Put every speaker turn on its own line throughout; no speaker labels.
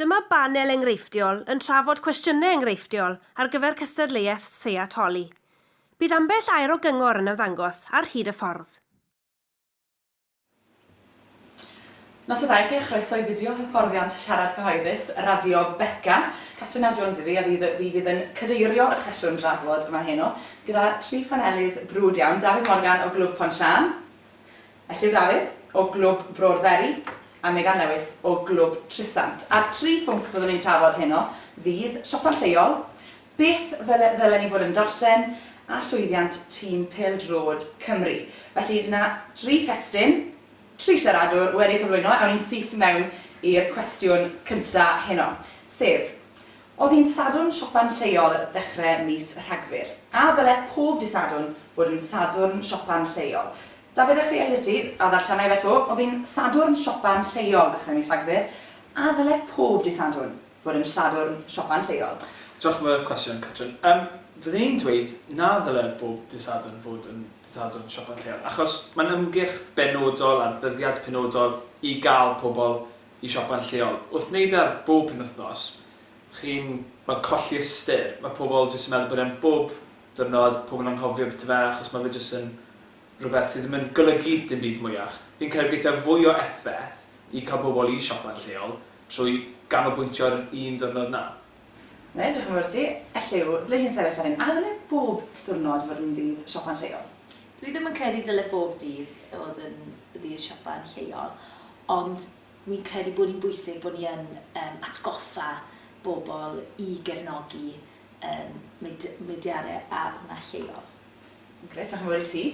Dyma banel enghreifftiol yn trafod cwestiynau enghreifftiol ar gyfer cystadleuaeth Seat Holi. Bydd ambell air o gyngor yn ymddangos ar hyd y ffordd.
Nos da i chi a chroeso i fideo hyfforddiant siarad cyhoeddus Radio Beca. Catriona Jones yw fi a fi fydd yn cadeirio y sesiwn drafod yma heno gyda tri phanelydd brwd iawn, Dafydd Morgan o Glwb Pont Siân, Elliw Dafydd o Glwb Bro'r Feri a Megan Lewis o Glwb Trysant. A'r tri phwnc fyddwn ni'n trafod heno fydd siopa lleol, beth fel ddylen ni fod yn darllen a llwyddiant tîm pêl-droed Cymru. Felly dyna dri thestun, tri siaradwr wedi cyflwyno, awn ni'n syth mewn i'r cwestiwn cyntaf heno, sef, Oedd hi'n Sadwrn siopa'n lleol ddechrau mis Rhagfyr. A ddyle pob dydd Sadwrn fod yn Sadwrn siopa'n lleol? Dafydd a Chriel i ti, a ddarllena i fe 'to, oedd hi'n Sadwrn siopa'n lleol ddechrau mis Rhagfyr. A ddyle pob dydd Sadwrn fod yn Sadwrn siopa'n lleol? Diolch am y
cwestiwn, Catrin. Yym, fydden i'n dweud na ddyle bob dydd Sadwrn fod yn dydd Sadwrn siopa'n lleol, achos mae'n ymgyrch benodol ar ddyddiad penodol i gael pobl i siopa'n lleol. Wrth wneud e ar bob penwythnos, chi'n fel colli ystyr. Mae pobl jyst yn meddwl bod e'n bob diwrnod, pobl anghofio byti fe achos mae fe jyst yn rhywbeth sydd ddim yn golygu dim byd mwyach. Fi'n credu geithiaf fwy o effaith i cael pobl i siopa'n lleol trwy ganolbwyntio ar yr un ddiwrnod 'na. Ie, diolch yn fawr
i ti. Elli ble hi'n sefyll ar hyn? A ddyle bob diwrnod fod yn ddydd siopa'n lleol? Dwi ddim yn credu
dyle bob dydd fod yn ddydd siopa'n lleol, ond fi'n credu bod hi'n bwysig bod ni yn yym atgoffa bobl i gefnogi yym mud- mudiadau a hwnna lleol. Grêt, diolch yn
fawr i ti.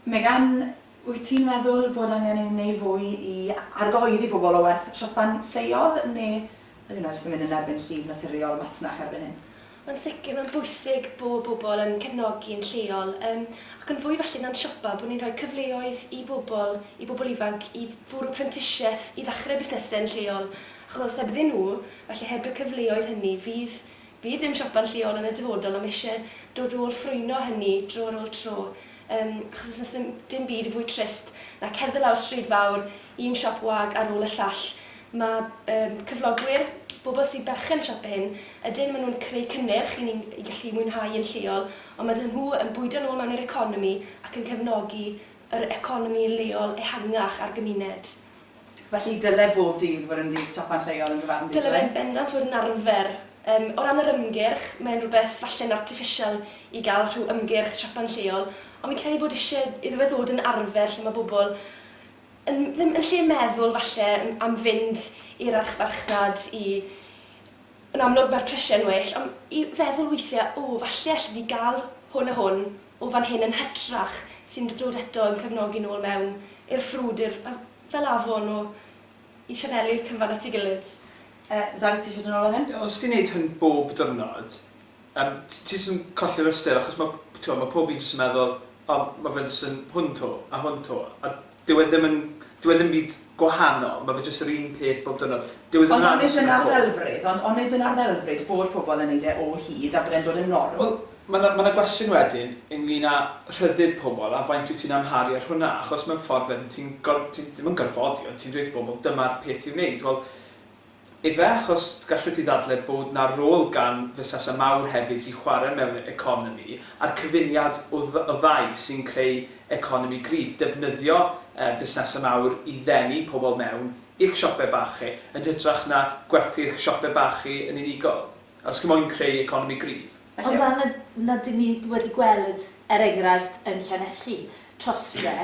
Megan, wyt ti'n meddwl bod angen i ni wneud fwy i argyhoeddi pobl o werth siopa'n lleol, neu Yn un o'r sy'n mynd yn erbyn llif naturiol masnach erbyn hyn. Yn sicr, mae'n
bwysig bod pobl yn cefnogi yn lleol, yym, ac yn fwy felly na'n siopa, bod ni'n rhoi cyfleoedd i bobl, i bobl ifanc, i fwrw prentisiaeth, i ddechrau busnesau yn lleol, achos hebddyn nhw, felly heb y cyfleoedd hynny, fydd Bydd ein siopa'n lleol yn y dyfodol am eisiau dod ôl ffrwyno hynny dro ar ôl tro, yym, achos os oes dim byd fwy trist na cerdded lawr stryd fawr, un siop wag ar ôl y llall. Mae, yym, cyflogwyr, bobl sy'n berchen siop ein, ydyn, maen nhw'n creu cynnyrch i ni i gallu mwynhau yn lleol, ond maen nhw yn bwydo nôl mewn i'r economi ac yn cefnogi yr economi leol ehangach a'r gymuned. Felly
dyle bob dydd fod yn ddydd siopa lleol yn dy farn di, dyle? Dyle fe yn bendant fod yn
arfer. Yym, o ran yr ymgyrch, mae'n rhywbeth falle'n artiffisial i gael rhyw ymgyrch siopa'n lleol, ond fi'n credu bod isie iddo fe ddod yn arfer lle mae bobl yn ddim yn lle meddwl falle am fynd i'r archfarchnad i... Yn amlwg mae'r prisiau'n well, ond i feddwl weithiau, 'O, falle alli di gael hwn a hwn. o fan hyn yn hytrach, sy'n dod eto i'n cefnogi nôl mewn i'r ffrwd, i'r, yy, fel afon o, i sianelu'r cyfan at ei gilydd. Yy, Dafydd, ti
isie dod nôl fan hyn? Os ti'n neud hyn bob
dyrnod, yym, t- ti jyst yn colli'r ystyr, achos ma', t'mo', ma' pob un jyst yn meddwl, O, ma' fe'n jyst yn hwn 'to, a hwn 'to, a Dyw e ddim yn... dyw e ddim byd gwahanol, ma' fe jyst yr un peth bob diwrnod. Dyw e ddim yn aros yn y côf. Ond onid
dyna'r ddelfryd? Ond onid dyna'r ddelfryd, bod pobl yn neud e o hyd a bod e'n dod yn norm? Wel, ma' 'na ma' 'na
gwestiwn wedyn ynglŷn â rhyddid pobl a faint wyt ti'n amharu ar hwnna, achos mewn ffordd wedyn ti'n gor- ti'n ddim yn gorfodi ond ti'n dweud wrth bobl dyma'r peth i'w wneud. Wel, Efe achos gallet ti ddadle bod 'na rôl gan fusasau mawr hefyd i chware mewn economi a'r cyfuniad o o ddau sy'n creu economi gryf, defnyddio yy busnesau mawr i ddenu pobl mewn i'ch siope bach chi yn hytrach na gwerthu'ch siope bach chi yn unigol os chi moyn creu economi gryf. Ond a na
na dyn ni wedi gweld er enghraifft yn Llanelli trostre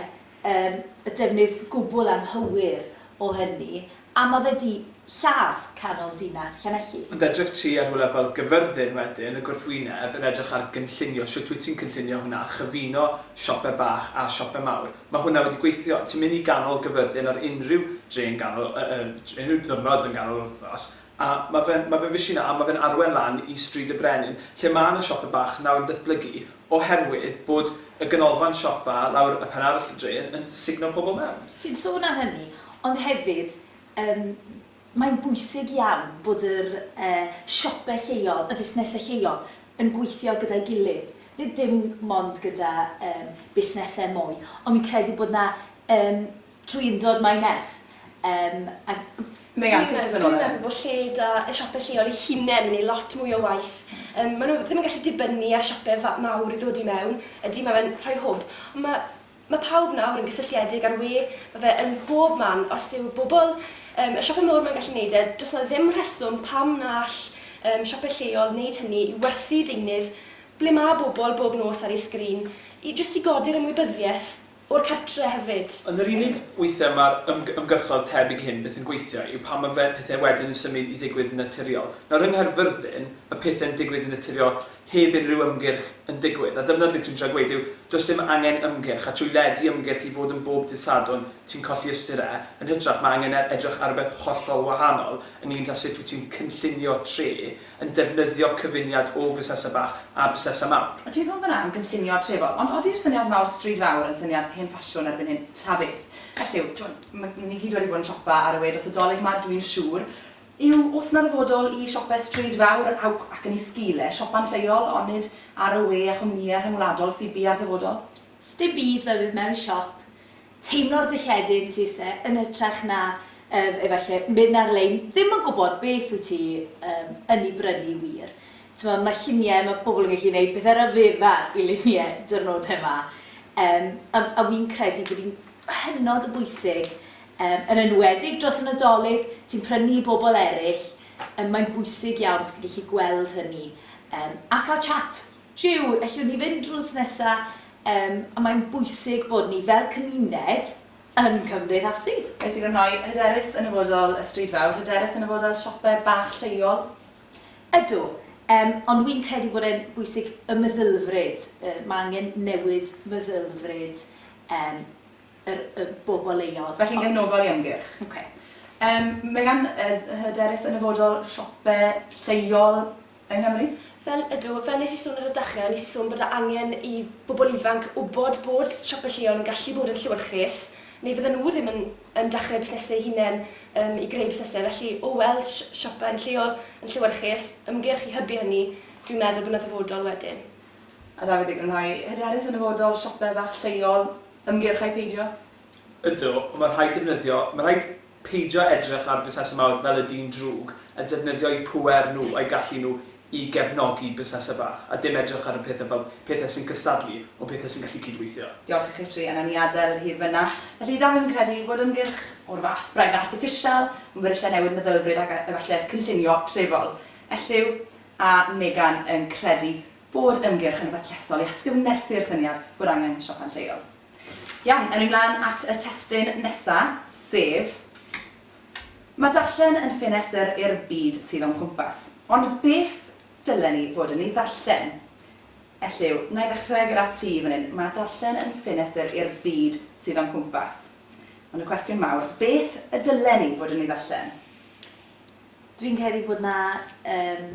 yym y defnydd gwbl anghywir o hynny A ma fe di lladd canol dinas Llanelli. Ond edrych ti ar rywle
fel Gyfyrddin wedyn, y gwrthwyneb, yn edrych ar gynllunio, shwt wyt ti'n cynllunio hwnna, chyfuno siope bach a siope mawr. Ma hwnna wedi gweithio. Ti'n mynd i ganol Gyfyrddin ar unrhyw dre yn ganol, yy yy unrhyw ddiwrnod yn ganol yr wthnos, a ma fe'n, ma fe'n fishi na, a ma fe'n arwen lan i Stryd y Brenin, lle ma na siope bach nawr yn datblygu, Oherwydd bod y ganolfan siopa lawr y pen arall y drên yn sugno pobl mewn. Ti'n sôn am hynny,
ond hefyd yym mae'n bwysig iawn bod yr yy siope lleol, y fusnesau lleol yn gweithio gyda'i gilydd. Nid dim mond gyda yym busnesau mwy, ond fi'n credu bod 'na yym Trwy undod mae nerth yym a b- Mae
anti stress yn ormod. Dwi'n meddwl bod lle da
y siope lleol eu hunain yn neud lot mwy o waith. Yym ma' nhw ddim yn gallu dibynnu ar siope fa- mawr i ddod i mewn. Ydy ma' fe'n rhoi hwb. Ond ma' ma' pawb nawr yn gysylltiedig a'r we ma' fe yn bob man os yw bobl yym y siope mowr ma'n gallu neud e does 'na ddim rheswm pam na all yym siope lleol neud hynny i werthu deunydd ble ma' bobl bob nos ar eu sgrin i jyst i godi'r ymwybyddieth o'r cartre hefyd. Ond yr unig weithiau
mae'r ymgyrchoedd tebyg hyn byth yn gweithio yw pan mae fe pethau wedyn yn symud i ddigwydd yn naturiol. Nawr yng Nghaerfyrddin, mae pethau'n digwydd yn naturiol heb unrhyw ymgyrch yn digwydd, a dyna beth dwi'n trio gweud yw does dim angen ymgyrch, a trwy ledu ymgyrch i fod yn bob dydd Sadwrn ti'n colli ystyr e, yn hytrach mae angen edrych ar rywbeth hollol wahanol ynglŷn â sut wyt ti'n cynllunio tre, yn defnyddio cyfuniad o fusnesau bach a busnesau mawr. Mae Tir Ddwfn am gynllunio
trefol, ond odi'r syniad mawr stryd fawr yn syniad hen ffasiwn erbyn hyn? Ta beth. Beth yw, timod, ma- ni gyd wedi bod yn siopa ar y we dros y Dolig 'ma, dw i'n siŵr, yw oes 'na ddyfodol i siope stryd fawr a, ac yn ei sgil e, siopa'n lleol, onid ar y we a chwmnïau rhyngwladol sydd bia'r dyfodol? Sti bydd
fel bydd mewn i siop, teimlo'r dilledig, ti isie, yn hytrach na, yym, efallai, mynd ar-lein, ddim yn gwybod beth wyt ti, yym, yn ei brynu wir. T'mod, mae lluniau, mae pobl yn gallu neud pethe ryfedda i luniau dirnodau 'ma. Yym, a a wi'n credu bod hi'n hynod o bwysig, yym, yn enwedig dros y Nadolig, ti'n prynu i bobl eryll, yym, mae'n bwysig iawn bod ti'n gallu gweld hynny, yym, a cael chat. Jiw, ellwn ni fynd drws nesa? Yym, a mae'n bwysig bod ni fel cymuned yn cymdeithasu. Wyt ti'n rhoi
hyderus yn y fodol, y stryd fawr, hyderus yn y fodol siope bach lleol? Ydw,
yym, ond wi'n credu bod e'n bwysig y meddylfryd, yy, ma' angen newid meddylfryd, yym, yr, y bobl leol. Felly'n gefnogol i ymgyrch.
Ok. Yym,
Megan,
yy, hyderus yn y fodol siope lleol? yng Nghymru. Fel, ydw, fel
wnes i sôn ar y dechrau, wnes i sôn bod 'na angen i bobl ifanc wybod bod siopau lleol yn gallu bod yn llewyrchus, neu fydden nhw ddim yn yn dechrau busnesau eu hunain yym i greu busnesau. Felly, o weld si- siopau yn lleol yn llewyrchus, ymgyrch i hybu hynny, dwi'n meddwl bod 'na ddyfodol wedyn. A Dafydd, i
grynhau, hyderus yn nyfodol siopau bach lleol, ymgyrch ai peidio? Ydw,
ond mae rhaid defnyddio, mae rhaid peidio edrych ar busnesau mawr fel y dyn drwg a defnyddio'u pŵer nhw a'u gallu nhw i gefnogi busnesau bach, a dim edrych ar y pethau fel pethau sy'n cystadlu, ond pethau sy'n gallu cydweithio. Diolch i chitri a nawn ni
adael yr hir fynna. Felly, Dafydd yn credu bod ymgyrch o'r fath, braidd artiffisial, yn bwrisiau newid meddylfryd ac efallai cynllunio trefol. Elliw a Megan yn credu bod ymgyrch yn rhywbeth llesol i atgyfnerthu'r syniad bod angen siopa lleol. Iawn, awn ni mlaen at y testun nesa, sef, Mae darllen yn ffenestr i'r byd sydd o'n cwmpas. Ond beth dylen ni fod yn ei ddarllen? Elliw, na i ddechrau gyda ti fan hyn. Mae darllen yn ffenestr i'r byd sydd o'n cwmpas. Ond y cwestiwn mawr, beth y dylen ni fod yn ei ddarllen?
Dwi'n credu bod 'na yym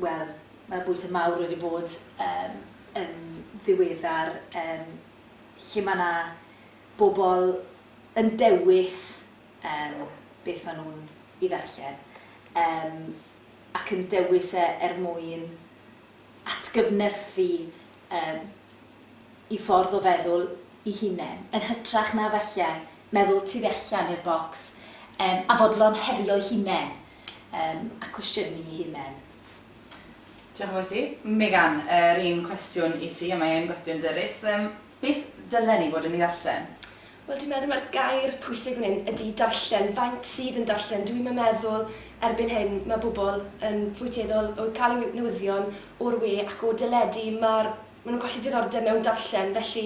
Wel, mae 'na bwysau mawr wedi bod yym yn ddiweddar yym lle mae 'na bobl yn dewis yym beth maen nhw'n ei ddarllen yym ac yn dewis e er mwyn atgyfnerthu yym eu ffordd o feddwl eu hunain, yn hytrach na falle meddwl tu allan i'r bocs yym a fodlon herio'u hunain. Yym, a cwestiynu i hunen.
Diolch yn fawr i ti. Megan, yr un cwestiwn i ti, a mae e'n gwestiwn dyrys. Yym, beth dylen ni fod yn ei ddarllen? Wel, dwi'n meddwl mai'r
gair pwysig fan hyn ydy darllen. Faint sydd yn darllen? Dwi'm yn meddwl erbyn hyn mae pobl yn fwy tueddol o gael eu newyddion o'r we ac o deledu. Ma'r... maen nhw'n colli diddordeb mewn darllen, felly...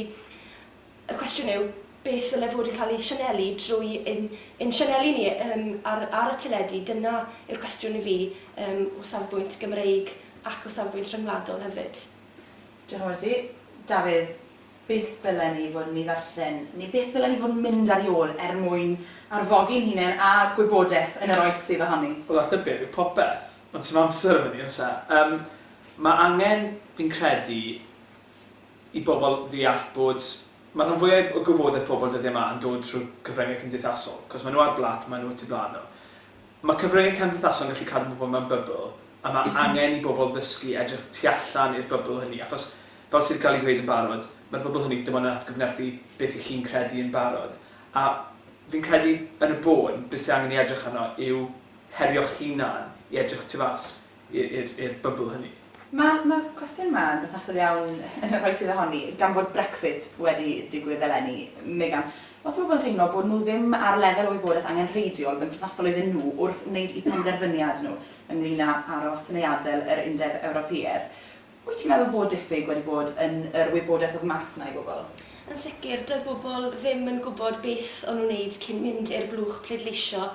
Y cwestiwn yw, beth ddyle fod yn cael ei sianelu drwy ein ein sianeli ni yym ar ar y teledu? Dyna yw'r cwestiwn i fi yym o safbwynt Gymreig ac o safbwynt rhyngwladol hefyd. Diolch yn fawr
i ti. Dafydd, beth ddylen ni fod yn ei ddarllen neu beth ddylen ni fod yn mynd ar ei ôl er mwyn arfogi'n hunain a gwybodaeth yn yr oes sydd ohoni? Wel ateb byr yw
popeth, ond sdim amser am hynny oes e? Yym ma' angen, fi'n credu, i bobl ddeall bod, mae rhan fwyaf o gwybodaeth pobl dyddiau yma yn dod trwy cyfryngau cymdeithasol, cos maen nhw ar blât, maen nhw y tu blaen nhw. Mae cyfryngau cymdeithasol yn gallu cadw pobl mewn bybl, a mae angen i bobl ddysgu edrych tu allan i'r bybl hynny, achos, fel sydd wedi cael ei ddweud yn barod, mae'r bybl hynny dim ond yn atgyfnerthu beth y'ch chi'n credu yn barod. A fi'n credu, yn y bôn, beth sydd angen ei edrych arno yw herio'ch hunan i edrych tu fas. i'r bybl hynny. Mae'r cwestiwn
yma yn berthnasol iawn yn yr oes sydd ohoni, gan bod Brexit wedi digwydd eleni, Megan. Lot o bobl yn teimlo bod nhw ddim ar y lefel o wybodaeth angenrheidiol oedd yn perthnasol iddyn nhw wrth wneud eu penderfyniad nhw ynglŷn â aros neu adael yr Undeb Ewropeaidd. Wyt ti'n meddwl bod diffyg wedi bod yn yr wybodaeth oedd mas 'na i bobl? Yn sicr, doedd
bobl ddim yn gwybod beth o'n nhw'n wneud cyn mynd i'r blwch pleidleisio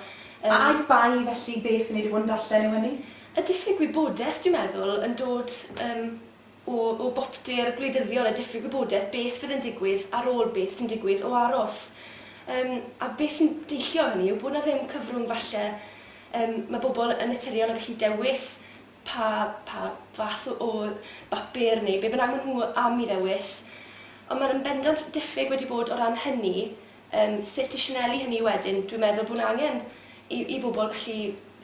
yn... Ai bai
felly beth o'n i 'di bod yn darllen yw hynny? Y diffyg wybodaeth,
dwi'n meddwl, yn dod yym o o boptu'r gwleidyddion, y diffyg wybodaeth beth fydd yn digwydd ar ôl beth sy'n digwydd o aros. Yym a beth sy'n deillio o hynny yw bod 'na ddim cyfrwng falle, yym ma' bobl yn naturiol yn gallu dewis pa, pa fath o o bapur neu be bynnag maen nhw am i ddewis. Ond mae'n yn bendant diffyg wedi bod o ran hynny, yym sut i sianelu hynny wedyn. Dwi'n meddwl bod 'na angen i i bobl gallu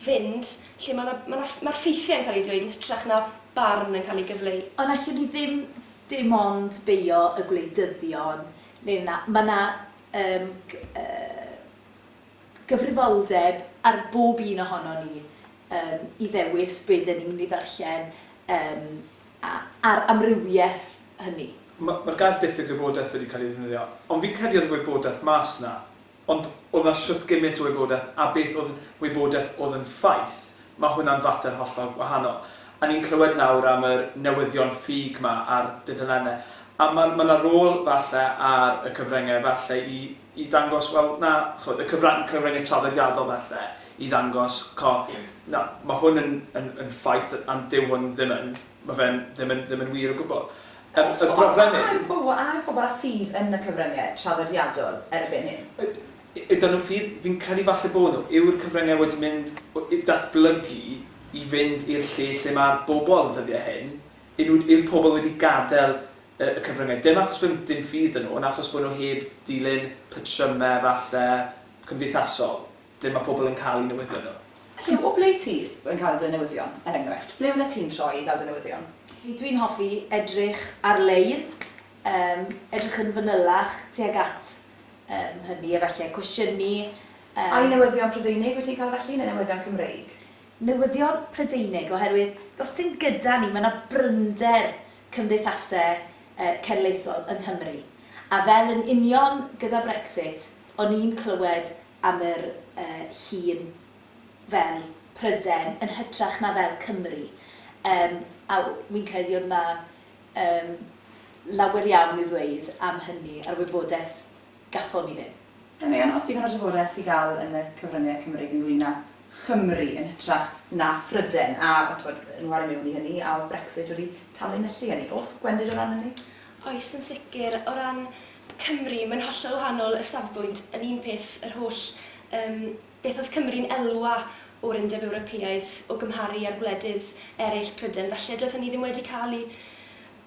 fynd lle mae 'na ma' 'na ff- ma'r ffeithiau yn cael eu dweud yn hytrach na barn yn cael ei gyfleu. Ond allwn ni ddim
dim ond beio y gwleidyddion neu na, ma' 'na yym g- yy gyfrifoldeb ar bob un ohonon ni yym i ddewis be' 'den ni'n mynd i ddarllen yym a a'r amrywieth hynny. Ma' ma'r gair diffyg
gwybodaeth wedi cael ei ddefnyddio, ond fi'n credu o'dd y wybodaeth mas 'na, ond o'dd 'na shwt gymint o wybodaeth a beth o'dd yn wybodaeth o'dd yn ffaith, ma' hwnna'n fater hollol wahanol. A ni'n clywed nawr am yr newyddion ffug 'ma ar dudalenne, a ma' ma' 'na rôl falle ar y cyfrynge falle i i ddangos, wel, na, chimod, y cyfrang- cyfryngau traddodiadol falle, i ddangos, chimod, na, mae hwn yn, yn, yn ffaith, ond dyw hwn ddim yn, mae fe'n ddim yn, ddim yn wir o gwbl. Yym, y broblem yw... Ond, a yw pobl, a yw
pobl â ffydd yn y cyfryngau traddodiadol erbyn hyn? Y- ydyn nhw ffydd?
Fi'n credu falle bod nhw. Yw'r cyfryngau wedi mynd, w- i datblygu i fynd i'r lle lle mae'r bobl dyddiau hyn? Yw, yw'r pobl wedi gadael y cyfryngau, dim achos bod dim ffydd 'da nhw, ond achos bod nhw heb ddilyn patrymau falle cymdeithasol, ble mae pobl yn cael eu newyddion nhw. Felly, o ble ti
yn cael dy newyddion, er enghraifft? Ble fyddet ti'n troi i gael dy newyddion? Dwi'n hoffi
edrych ar-lein, yym, edrych yn fanylach tuag at, yym, hynny, a falle cwestiynu, Ai yym.
newyddion Prydeinig wyt ti'n cael felly, neu newyddion Cymreig? Newyddion
Prydeinig, oherwydd does dim gyda ni, mae 'na bryder cymdeithasau cenedlaethol yng Nghymru, a fel yn union gyda Brexit, o'n i'n clywed am yr llun fel Prydain yn hytrach na fel Cymru, a wi'n credu oedd 'na lawer iawn i'w ddweud am hynny a'r wybodaeth Gallwn ni ddim. Yn Meon, os digon o
drafodaeth i gael yn y cyfryngau Cymreig ynglŷn â Chymru yn hytrach na Phrydain, a a t'mod, nhw ar y mewn i hynny, a oedd Brexit wedi tanlinellu hynny? Oes gwendid o ran hynny? Oes, yn sicr.
O ran Cymru, mae'n hollol wahanol y safbwynt. Yn un peth, yr holl yym beth oedd Cymru'n elwa o'r Undeb Ewropeaidd o gymharu â'r gwledydd eraill, Prydain falle, doedd hynny ddim wedi cael ei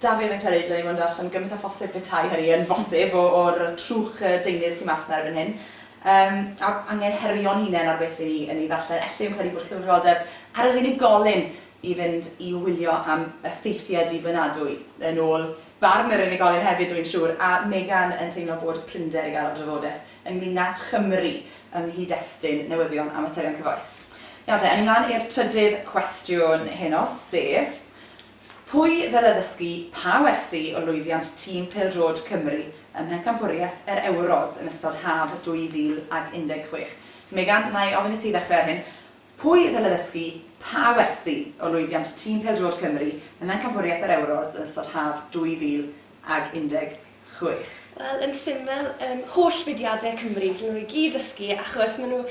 Da fi ddim yn credu dylai fod yn darllen gymaint â phosib petai hynny yn bosib o, o'r trwch deunydd tu mas 'na erbyn hyn. Yym, a anghyngherio'n hunain ar beth 'yn ni yn ei ddarllen. Elli i'm credu bod cyfrifoldeb ar yr unigolyn i fynd i wylio am effeithiau dibynadwy, yn ôl barn yr unigolyn hefyd dw i'n siŵr, a Megan yn teimlo bod prinder i gael o'r drafodaeth ynglŷn â Chymru yng nghyd-destun newyddion a materion cyfoes. Nawr te, awn ni mlaen i'r trydydd cwestiwn heno, sef, Pwy ddyle ddysgu pa wersi o lwyddiant tîm pêl-droed Cymru ym Mhencampwriaeth yr Ewros yn ystod haf 2016? Megan, na i ofyn i ti ddechrau ar hyn. Pwy ddyle ddysgu pa wersi o lwyddiant tîm pêl-droed Cymru ym Mhencampwriaeth yr Ewros yn ystod haf 2016? ag
16. Wel yn syml yym holl fudiade Cymru dyn nhw i gyd ddysgu achos ma' nhw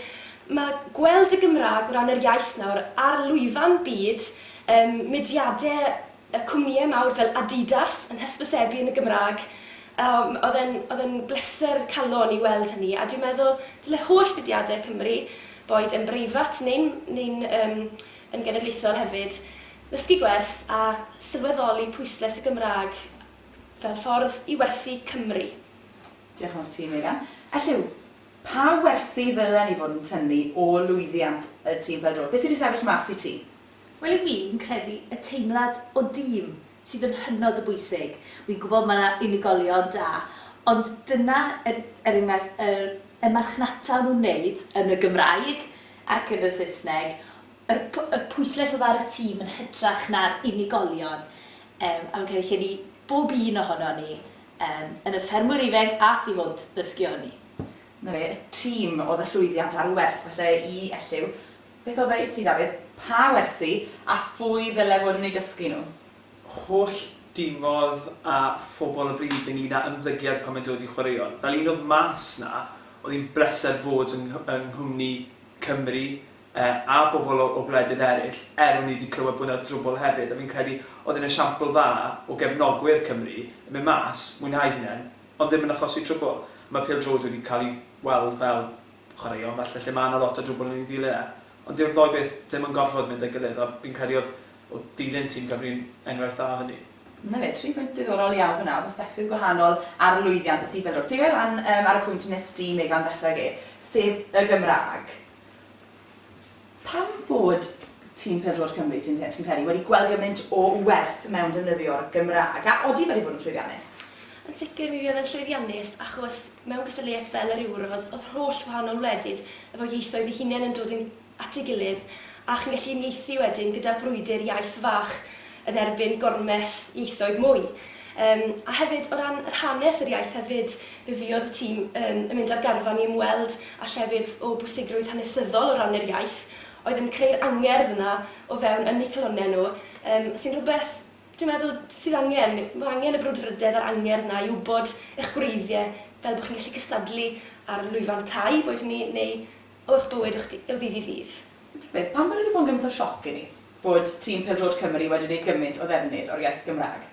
ma' gweld y Gymrag o ran yr iaith nawr ar lwyfan byd yym mudiade yy cwmnïe mawr fel Adidas yn hysbysebu yn y Gymrag yym o'dd e'n o'dd e'n bleser calon i weld hynny a dwi'n meddwl dyle holl fudiade Cymru boed yn breifat neu'n neu'n yym yn genedlaethol hefyd Dysgu gwers a sylweddoli pwyslais y Gymraeg fel ffordd i werthu Cymru. Diolch
yn fawr ti, Meira. Elliw, pa wersi ddylen ni fod yn tynnu o lwyddiant y tîm pêl-droed? Beth sy 'di sefyll mas i ti? Wel i mi,
fi'n credu y teimlad o dîm sydd yn hynod o bwysig. Wi'n gwybod mae 'na unigolion da, ond dyna er er enghraifft yr y marchnata o'n nhw'n wneud yn y Gymraeg ac yn y Saesneg, Yr yr pwyslais oedd ar y tîm yn hytrach na'r unigolion yym a fi'n credu lle ni bob un ohonon ni yym yn y ffermwyr ifenc a thu hwnt ddysgu o hynny. 'Na fe, y
tîm oedd y llwyddiant a'r wers falle i elliw. Beth oedd e i ti Dafydd? Pa wersi a phwy ddyle fod yn eu dysgu nhw? Holl
dimodd a phobl y bryd ynglŷn â ymddygiad pan mae'n dod i chwaraeon. Fel un oedd mas 'na, oedd hi'n bleser fod yng yng nghwmni Cymry, e a bobl o o gwledydd eraill, er o'n i 'di clywed bod 'na drwbwl hefyd, a fi'n credu oedd e'n esiampl dda o gefnogwyr Cymru yn mynd mas, mwynhau eu hunain, ond ddim yn achosi trwbwl. Mae pêl-droed wedi cael ei weld fel chwaraeon falle lle mae 'na lot o drwbwl yn ei ddilyn e, ond dyw'r ddou beth ddim yn gorfod mynd â'i gilydd, a fi'n credu oedd oedd dilyn tîm Cymru'n enghraifft dda o hynny. 'Na fe, tri phwynt
diddorol iawn fan'na o bersbectifs gwahanol ar lwyddiant y tîm bêl-droed. Peidio â lan yym ar y pwynt wnest ti, Megan, ddechrau ag e, sef y Gymraeg. Pam bod tîm pêl-droed Cymru, ti'n ti'n credu, wedi gweld gymaint o werth mewn defnyddio'r Gymraeg, a odi wedi bod yn llwyddiannus? Yn sicr mi
fuodd e'n llwyddiannus achos mewn cystadleuaeth fel yr Euros o'dd holl wahanol wledydd efo ieithoedd eu hunain yn dod yn at ei gilydd a chi'n gallu unieithu wedyn gyda brwydr iaith fach yn erbyn gormes ieithoedd mwy. Yym, a hefyd, o ran yr hanes yr iaith hefyd, fe fuodd y tîm yn yn mynd ar garfan i ymweld â llefydd o bwysigrwydd hanesyddol o ran yr iaith, oedd yn creu'r angerdd yna o fewn ynni calonnau nhw, yym, sy'n rhywbeth, dwi'n meddwl, sydd angen. Mae angen y brwdfrydedd a'r angerdd 'na i wybod eich gwreiddiau, fel bod chi'n gallu cystadlu ar lwyfan cae, boed hynny neu o'ch bywyd o'ch d- o ddydd i ddydd. Ta beth, pam bod e wedi
bod yn gymaint o sioc i ni bod tîm pêl-droed Cymru wedi gwneud gymaint o ddefnydd o'r iaith Gymraeg?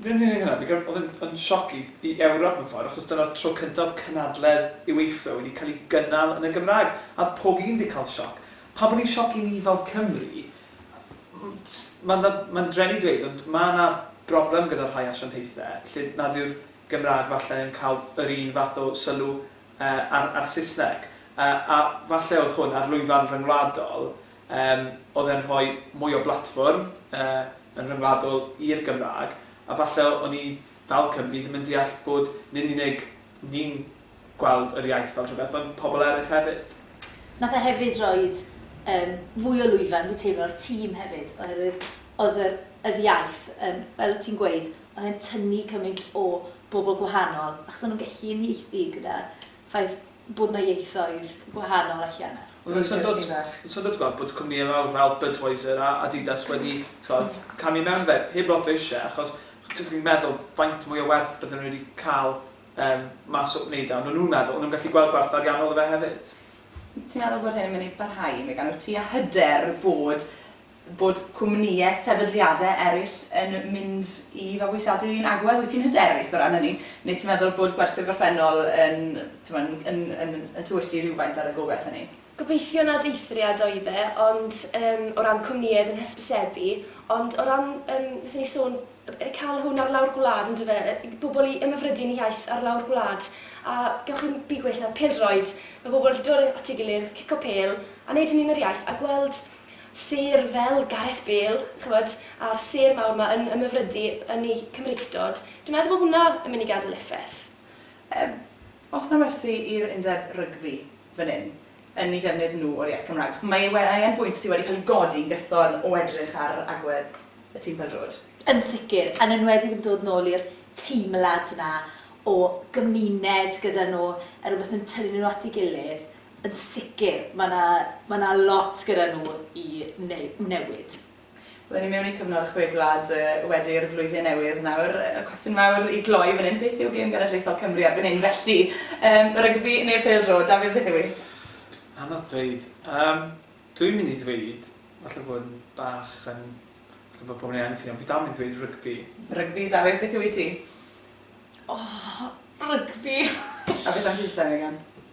Nid yn unig hynna, fi'n
credu oedd e'n yn sioc i i Ewrop mewn ffordd, achos dyna'r tro cyntaf oedd cynadledd UEFA wedi cael ei gynnal yn y Gymraeg, a oedd pob un 'di cael sioc. Pam bod hi'n sioc i ni fel Cymru? Mae'n dda- mae'n drueni i ddweud, ond mae 'na broblem gyda rhai asiantaethau lle nad yw'r Gymraeg falle yn cael yr un fath o sylw a'r a'r Saesneg. A a falle oedd hwn ar lwyfan ryngwladol, yym, oedd e'n rhoi mwy o blatfform, yy, yn ryngwladol i'r Gymraeg, a falle o'n i, fel Cymry, ddim yn deall bod nid yn unig ni'n gweld yr iaith fel rhywbeth, ond pobl eraill hefyd. Nath e hefyd
roid, yym, fwy o lwyfan, fi'n teimlo, i'r tîm hefyd, oherwydd oedd yr yr iaith yn, fel o' ti'n gweud, oedd e'n tynnu cymaint o bobl gwahanol, achos o'n nhw'n gallu uniaethu gyda ffaith bod 'na ieithoedd gwahanol allan 'na. Oedd e'n syndod,
syndod ti gweld bod cwmnïau mawr fel Budweiser a Adidas wedi, ti gwbod, camu mewn i fe, heb lot o isie, achos ti'n gallu meddwl faint mwy o werth bydden nhw wedi cael yym mas o wneud e, ond o'n nhw'n meddwl, o'n nhw'n gallu gweld gwerth ariannol o fe hefyd. Ti'n meddwl bod
hyn yn mynd i barhau i mi? Gan wyt ti a hyder bod bod cwmnïau sefydliadau eraill yn mynd i fabwysiadu'r un agwedd? Wyt ti'n hyderus o ran hynny? Neu ti'n meddwl bod gwersi'r gorffennol yn, t'mod, yn, yn, yn tywyllu rhywfaint ar y gobaith hynny? Gobeithio nad
eithriad oedd e, ond yym o ran cwmnïau oedd yn hysbysebu, ond o ran yym nethon ni sôn yy cael hwn ar lawr gwlad on'd yfe? Yy i bobl i ymhyfrydu yn y iaith ar lawr gwlad, a gewch chi'm byd gwell na pêl-droed, ma' bobl yn gallu dod at ei gilydd, cico pêl, a neud hynny yn yr iaith, a gweld Sêr fel Gareth Bale, ch'mod, a'r sêr mawr 'ma yn ymhyfrydu yn eu Cymreictod, dwi'n meddwl bod hwnna yn mynd i gadel effaith. Yy,
oes 'na wersi i'r undeb rygbi fan hyn, yn eu defnydd nhw o'r iaith Gymraeg? Achos mae we- mae e'n bwynt sy' wedi cael ei godi yn gyson o edrych ar agwedd y tîm pêl-droed. Yn sicr,
yn enwedig yn dod nôl i'r teimlad 'na o gymuned gyda nhw, a rywbeth yn tynnu nhw at ei gilydd. Yn sicr, mae 'na, mae 'na lot gyda nhw i neu- newid. Bydden ni
mewn i cyfnod y Chwe Gwlad wedi i'r flwyddyn newydd nawr. Y cwestiwn mawr i gloi fan hyn, beth yw gêm genedlaethol Cymru erbyn hyn felly? Yym, rygbi neu pêl-droed? Dafydd, beth yw 'i? Anodd
dweud. Yym, dwi'n mynd i ddweud, falle bod yn bach yn, falle bod pobl yn ei anghytuno, ond fi dal mynd i ddweud rygbi. Rygbi. Dafydd, beth
yw 'i ti? O, rygbi!
A beth am chdi,
Megan?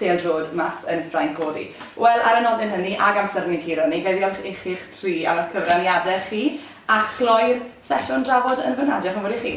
pêl-droed mas yn Ffrainc oedd hi. Wel, ar y nodyn hynny, ag amser yn ei guro ni, ga i ddiolch i chi'ch tri am eich cyfraniadau chi, a chloi'r sesiwn drafod yn fan'na. Diolch yn fawr i chi.